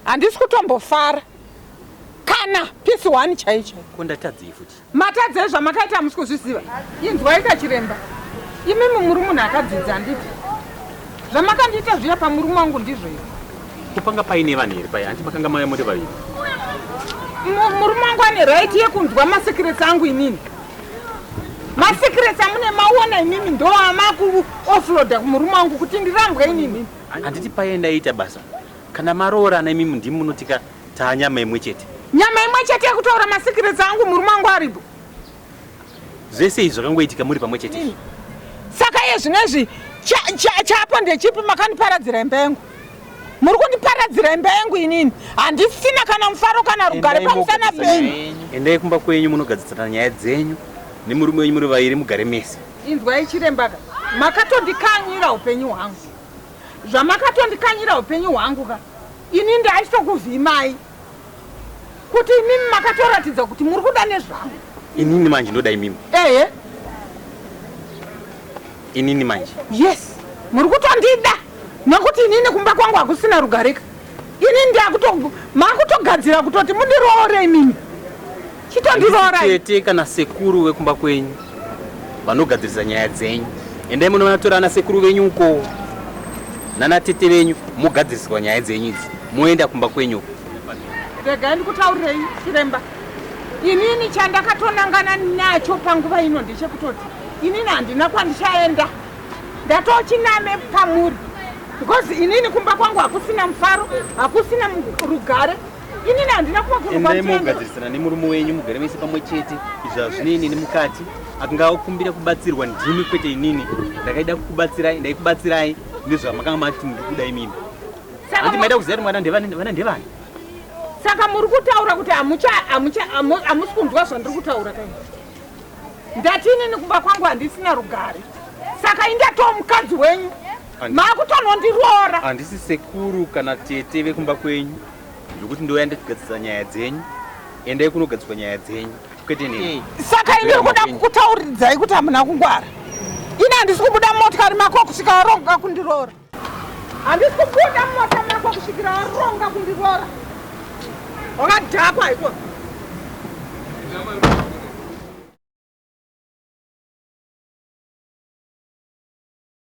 handisi kutombofara kana pisi one chaicho ko ndatadzei futi Matadzei zvamakaita hamusi kuzviziva. Inzwai kachiremba. Imimi muri munhu akadzidza handiti? Zvamakandiita zviya pamurume wangu ndizvo izvo. Kupanga paine vanhu here paya? Hanti makanga maya muri vaviri. Mu- Murume wangu ane right yekunzwa masecrets angu inini. Masecrets amune maona imimi ndo amaku offloader kumurume wangu kuti ndirambwe inini. Handiti paye ndaiita basa? Kana maroorana imi ndimi munotika taa nyama imwe chete. Nyama imwe chete yekutaura masikiresi angu murume wangu aripo. Zvese izvi zvakangoitika muri pamwe chete. Mm. Saka iye zvino izvi chapo ndechipi makandiparadzira imba yangu. Muri kundiparadzira imba yangu inini. Handisina kana mufaro kana rugare pamusana penyu. Endai kumba kwenyu munogadzisana nyaya dzenyu nemurume wenyu muri vairi mugare mese. Inzwai chirembaka. Makatondikanyira upenyu hwangu. zvamakatondikanyira upenyu hwangu ka ini ndaisokuvhimai kuti imimi makatoratidza kuti muri kuda nezvangu inini manje ndoda imimi ehe inini manje yes muri kutondida nekuti inini kumba kwangu hakusina rugarika Ini ndakuto makutogadzira kutoti mundiroore imimi. Chitondiroora. Tete kana sekuru wekumba kwenyu vanogadzirisa nyaya dzenyu. Endai munoona tora ana sekuru venyu uko. Nana tete venyu mogadziriswa nyaya dzenyu idzi. Moenda kumba kwenyu. Regai ndikutaurirei chiremba. Inini chandakatonangana nacho panguva ino ndechekutoti inini handina kwandichaenda. Ndatochiname pamuri. because inini kumba kwangu hakusina mufaro hakusina rugare inini handina kuva kunogadzirisana nemurume wenyu mugare mese pamwe chete izvi hazvine inini mukati akangakumbira kubatsirwa ndimi kwete inini ndakaida kukubatsirai ndaikubatsirai nezvamakanga mati muri kuda imini handi maida kuziva kuti mwana ndevana ndevani saka muri kutaura kuti hamusi kunzwa zvandiri kutaura kai ndati inini kumba kwangu handisina rugare saka indato mukadzi wenyu makutonondiroora handisi sekuru kana tete vekumba kwenyu zvekuti ndouya ndikugadzisa nyaya dzenyu endai kunogadziswa nyaya dzenyu kwete nei saka ini kuda kukutauridzai kuti hamuna kungwara ini handisi kubuda mumotikari mako kusvika waronga kundiroora handisi kubuda mumota mako kusvikira waronga kundiroora wakadhakwa ikona